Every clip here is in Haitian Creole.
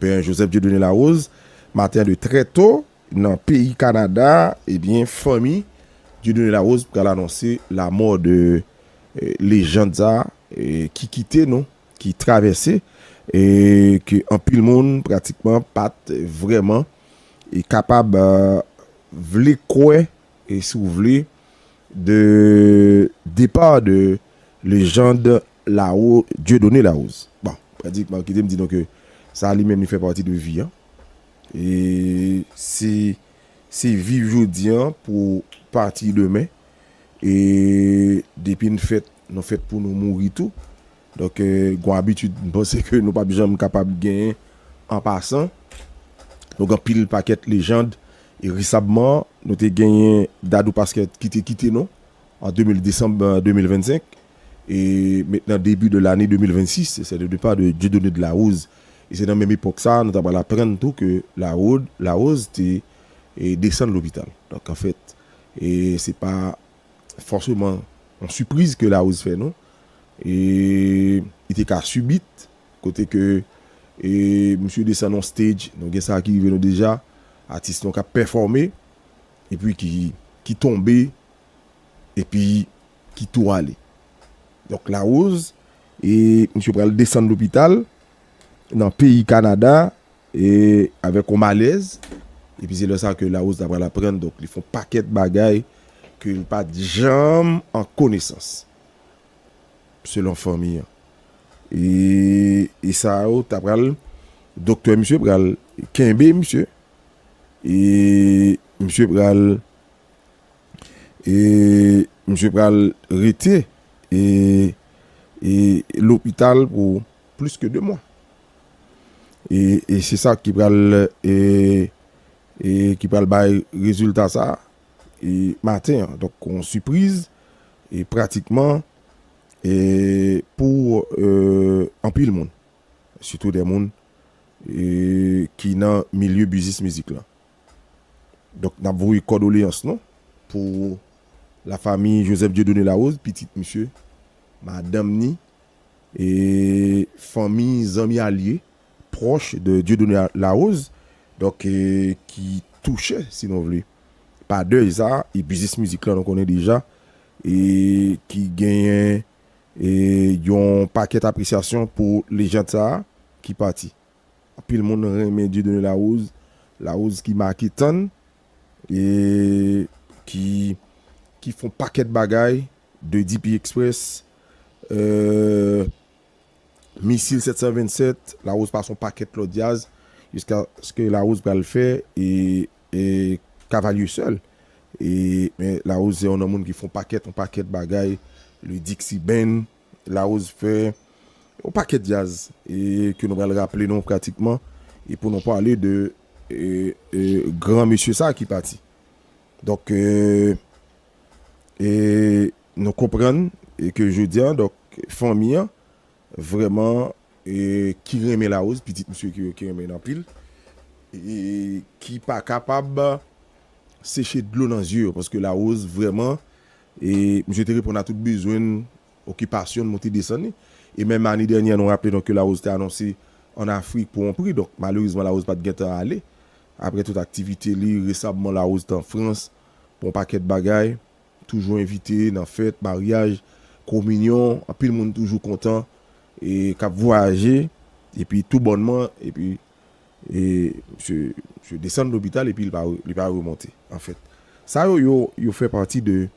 Pè Joseph Dieudonné Larose, maten de trè to, nan peyi Kanada, ebyen fanmi Dieudonné Larose pral anonse lamò de lejand sa ki kite nou, ki travèse, e ke anpil moun pratikman pat vrèman e kapab vle kwè e si w vle de depar de lejand Laro, Dieudonné Larose. Bon, Pradik Marc kite m di nou ke sa li menm li fè pati de vi an. E se se viv jodi an pou pati demen. E depi n fèt, nou fèt pou nou mouri tou. Donk gon abitid m panse ke nou pap janm kapab genyen an pasan. Nou gen anpil pakèt lejand. E resabman, nou te genyen Dadou Pasquet ki te kite nou En 2000 Desanm 2025 e met nan debi de lane 2026 se sè de depa de Dieudonné de la Rose e se nan menm epòk sa nou ta pral aprann tou ke Larod Larose te e desann lopital. Donk anfèt e se pa fòseman yon sipriz ke Larose fè nou e li te ka subit kote ke e misye desann yon stage nou gen sa ki rive nou deja atis nou k'ap pèfòme epi ki ki tonbe epi ki tou ale donk Larose e misye pral desann lopital nan peyi Kanada e avèk yon malèz epi se lè sa ke Larose ta pral aprann donk li fè yon pakèt bagay ke li pat janm an konesans selon fanmi an e sa yo ta pral doktè misye pral kenbe misye e misye pral. e misye pral rete e e lopital pou plis ke 2 mwa. E e se sa ki pral e e ki pral bay rezilta sa e maten an. Donk yon sipriz e pratikman e pou e anpil moun. Sitou de moun e ki nan milye biznis mizik lan. Donk nap voye kòdoleyans nou pou la fami Joseph Dieudonné Larose, pitit misye, madanm ni, e fanmi, zanmi alye, pwòch de Dieudonné Larose, donk ki touche si nou vle pa dèy sa, e biznis mizik la nou konnen deja e ki genyen yon pakèt apresyasyon pou lejand sa ki pati. Anpil moun renmen Dieudonné Larose, Larose ki make tann e ki fon pakèt bagay, 2 DP Express, Misil 727, Larose pase yon pakèt lòt djaz jiskaske Larose pral fè Cavalier Seul. Men Larose se yon nan moun ki fon pakèt yon pakèt bagay, le Dixie Band. Larose fè yon pakèt djaz ke nou pral raple nou pratikman e pou nou pale de gran mesye sa ki pati. Donk nou konprann ke jodi an fanmi an vreman ki renmen Larose, pitit misye ki renmen l anpil ki pa kapab seche dlo nan zye yo paske Larose vreman E misye te reponn a tout bezwen n, okipasyon n, monte desann li. E menm ane dènyè nou raple nou ke Larose te anonse an Afrik pou on pri, donk malerezman Larose pat gentan ale. Aprè tout aktivite li, resamman Larose te an Frans pou on pakèt bagay, toujou envite nan fèt, maryaj, kominyon, anpil moun toujou kontan e kap vwayaje epi tou bònman epi E misye misye desann lopital epi li pa li pa remonte anfèt. Sa yo yo yo fè pati de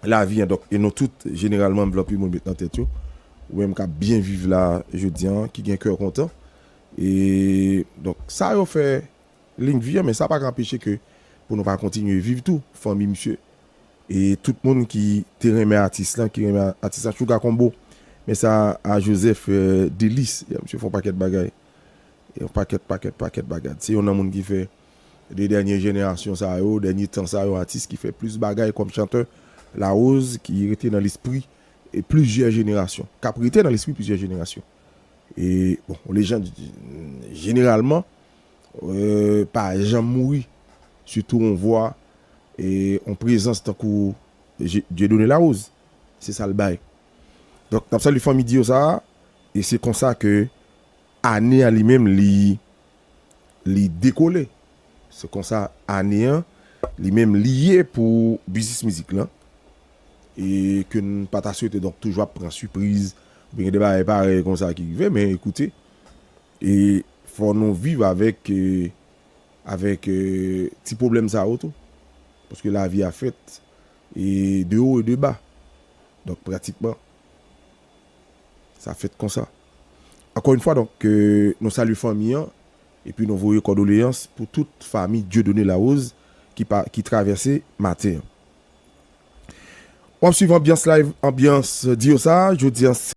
lavi an donk e nou tout jeneralman m vle anpil moun met nan tèt yo ou menm kap byen viv la jodi an ki gen kè kontan e donk sa yo fè Link vi an men sa pa ka anpeche ke pou nou pa kontinye viv tou fanmi misye e tout moun ki te renmen atis lan ki renmen atis lan chouga konbo men sa a joseph delis ya misye fon pakèt bagay yon pakèt pakèt pakèt bagad se yon nan moun ki fè de dènye jenerasyon sa yo dènye tan sa yo atis ki fè plis bagay kòm chantè larose ki rete nan lespri plizyè jenerasyon kap rete nan lespri plizyè jenerasyon e bon yon lejand jeneralman pa janm mouri sitou on vwa e on prezans tankou Dieudonné Larose se sal bay donk nap salye fanmi Dio sa e se konsa ke ane a li menm li li dekole se konsa ane an li menm li ye pou biznis mizik lan e ke n pa ta swete donk toujou ap pran sipriz gen de bagay parèy konsa ki rive men ekoute E fò nou viv avèk avèk ti pwoblèm sa yo tou. Paske lavi a fèt e de wo e de ba. Donk pratikman sa fèt konsa. Ankò yn fwa donk nou salye fanmi an epi nou voye kòdoleyans pou tout fami Dieudonné Larose ki pa ki travèse maten an. Wap swiv anbyans live anbyans di yo sa jodi an se.